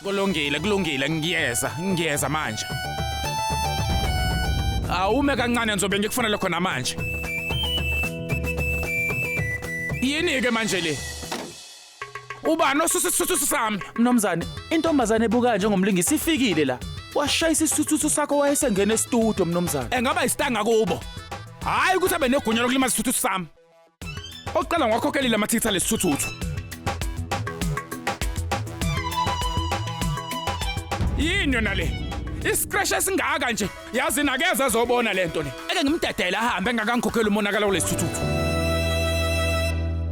Kulungile, kulungile, ngiyeza, ngiyeza manje. Awume kancane ngizobe ngikufonele khona manje. Yini ke manje le? Ubani osusisuthu sami? Mnumzane, intombazane ebuka njengomlingisi ifikile la. Washayisa isithuthu sakho wayesengena estudio mnumzane. Engaba isitanga kubo. Hayi ukuthi abe negunya lokulimaza isithuthu sami. Oqala ngwakhokhelile amathitha lesithuthuthu. Yini yona le? Iscratch esingaka nje. Yazi nakeze ezobona lento le. Ake ngimdedele ahambe engakangikhokheli umonakala kulesithuthuthu.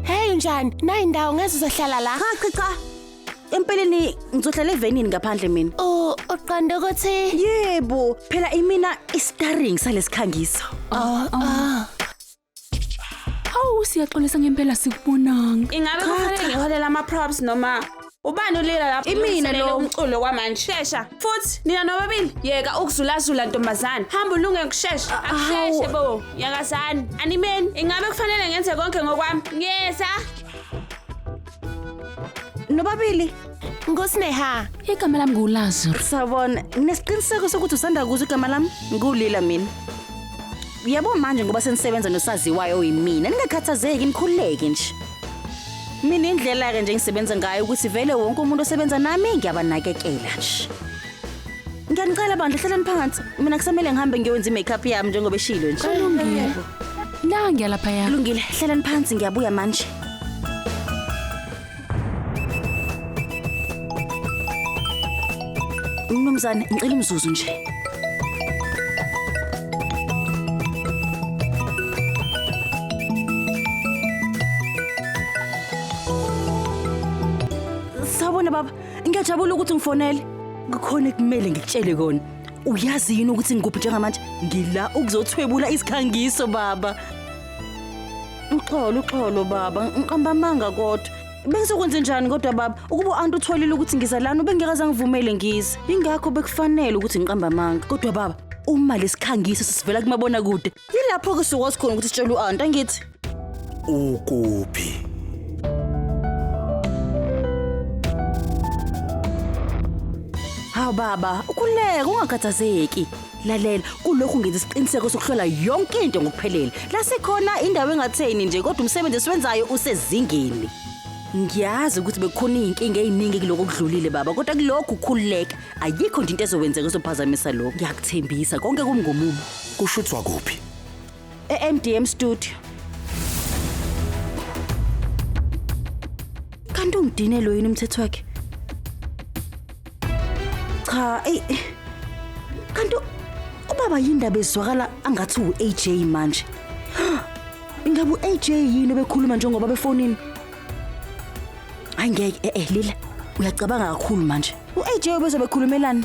Hey unjani? Nayi ndawo ngeze uzohlala la. Cha cha cha. Empeleni ngizohlala evenini ngaphandle mina. U uqonda ukuthi Yebo, phela imina istaring salesikhangiso. oh oh Awu siyaxolisa ngempela sikubonanga. Ingabe kufanele ngiholele ama props noma ubani ulila lapho Imina ulungiselele lowo. umculo kwamanje. Shesha. Futhi nina nobabili yeka ukuzulazula ntombazana. Hamba ulunge ngokushesha. Akusheshe bo. Yakazani. Animeni. Ingabe kufanele ngenze konke ngokwami? Ngiyeza. nobabili ngusineha igama lami nguwulazaro sawubona nginesiqiniseko sokuthi usanda kuzo igama lami ngiwulila mina yabo manje ngoba senisebenza nosaziwayo oyimina ningakhathazeki nikhululeke nje mina indlela-ke nje engisebenza ngayo ukuthi vele wonke umuntu osebenza nami ngiyabanakekela nje Ngiyanicela bandla hlalani phansi. Mina kusamele ngihambe ngiyokwenza i-makeup yami njengoba eshilo nje. Kulungile. La ngiyalaphaya. Kulungile, hlalani phansi ngiyabuya manje. Mnumzane, ngicela umzuzu nje. Sawubona baba. Ngiyajabula ukuthi ngifonele. Kukhona ekumele ngikutshele kona. Uyazi yini ukuthi ngikuphi njengamanje? Ngila ukuzothwebula isikhangiso baba. Uxolo uxolo baba, ngiqamba amanga kodwa. Bengizokwenza njani kodwa baba? Ukuba u-anti utholile ukuthi ngiza lana ubengekaze angivumele ngize. Ingakho bekufanele ukuthi ngiqamba amanga. Kodwa baba, uma lesikhangiso sisivela kumabonakude Yilapho ke sukwazi khona ukuthi sitshele u-aunt angithi. ukuphi Hawu baba, ukhuleka ungakhathazeki. Lalela, kulokhu ngenza isiqiniseko sokuhlola yonke into ngokuphelele. La sikhona indawo engatheni nje kodwa umsebenzi esiwenzayo usezingeni. Ngiyazi ukuthi bekukhona izinkinga eziningi kuloko kudlulile baba, kodwa kulokhu khululeka. ayikho nje into ezokwenzeka ezophazamisa lokho ngiyakuthembisa konke kumngumumo kushuthwa kuphi e-mdm studio kanti ungidinelwe yini umthetho wakhe cha eyi kanti ubaba yindaba ezwakala angathi u-aj manje ingabe u-aj yini obekhuluma njengoba befonini Hayi ngeke eh eh Lila uyacabanga kakhulu manje. U-AJ ubezobe ekhulumelani?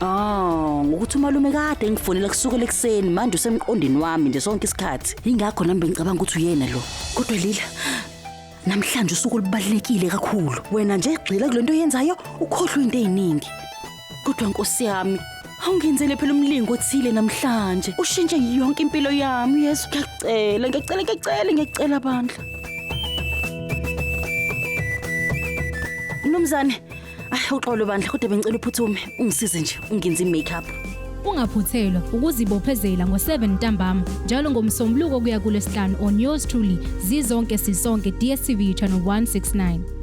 Oh, ngokuthi umalume kade engifonela kusukela ekuseni manje usemqondini wami nje sonke isikhathi. Ingakho nami bengicabanga ukuthi uyena lo. Kodwa Lila namhlanje usuku olubalulekile kakhulu. Wena nje gxila kulento oyenzayo ukhohlwe into eziningi. Kodwa nkosi yami, awungenzele phela umlingo othile namhlanje. Ushintshe yonke impilo yami, Yesu. Ngiyacela, ngiyacela, ngiyacela, ngiyacela bandla. Mnumzane, ay uxolo bandla kodwa bengicela uphuthume ungisize nje ungenze i-makeup. Ungaphuthelwa ukuzibophezela ngo-7 ntambama njalo ngomsombuluko kuya kulesihlanu on yours truly zizonke sisonke DSTV channel 169.